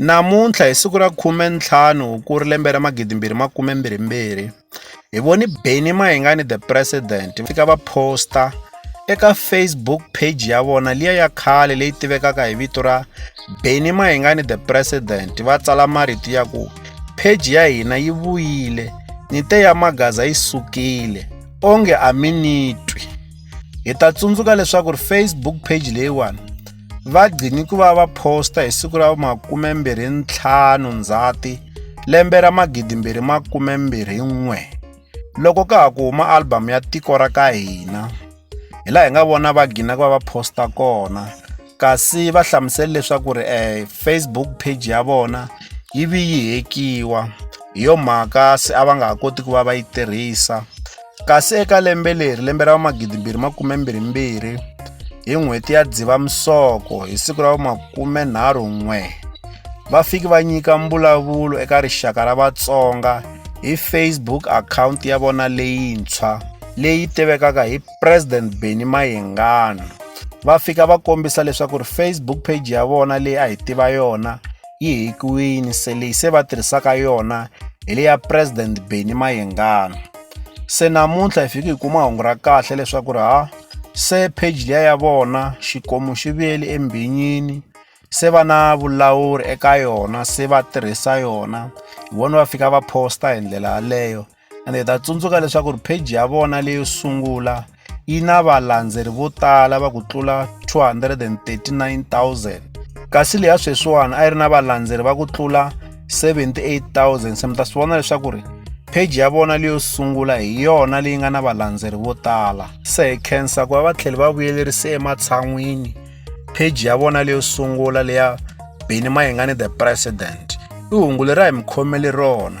Namuntlha hi siku ra 15 Hukuri lembe ra 2022, hi vone Benny Mayengani The President va fika va phosta eka Facebook page ya vona liya ya khale leyi tivekaka hi vito ra Benny Mayengani The President va tsala marito ya ku page ya hina yi vuyile ni te ya magaza yi sukile onge a mi ni twi hi ta tsundzuka leswaku ri Facebook page leyiwani va gcini ku va va phosta hi siku ra vu-25 Ndzhati lembe ra 2021 loko ka ha ku huma albhamu ya Tiko ra ka Hina. Hi laha hi nga vona va gina ku va va phosta kona kasi va hlamusele leswaku ri um Facebook page ya vona yi vi yi hekiwa hi yo mhaka se a va nga ha koti ku va va yi tirhisa. Kasi eka lembe leri, lembe ra vumagidimbirhi makume mbirhi mbirhi, hi n'hweti ya Dzivamisoko hi siku ra makume nharhu n'we, va fiki va nyika mbulavulo eka rixaka ra Vatsonga hi Facebook akhawunti ya vona leyintshwa leyi tivekaka hi President Benny Mayengani. Va fika va kombisa leswaku ri Facebook page ya vona leyi a hi tiva yona yi hekiwini se leyi se va tirhisaka yona hi le ya President Benny Mayengani. se namuntlha hi fike hi kuma hungu ra kahle leswaku ri ha se page liya ya vona xikomu xi vuyeli embhinyini se va na vulawuri eka yona se va tirhisa yona hi vona va fika va posta hi ndlela yaleyo ende hi ta tsundzuka leswaku ri page ya vona leyo sungula yi na valandzeri vo tala va ku tlula 239,000 kasi leya sweswiwani a yi ri na valandzeri va ku tlula 78,000 se mi ta swi vona leswaku ri pheji ya vona leyo sungula hi yona leyi nga na valandzeri vo tala se hi khensa ku va va tlhele va vuyelerise ematshan'wini pheji ya vona leyo sungula leya beni mayingani the president i hungu leri a hi mi khomele rona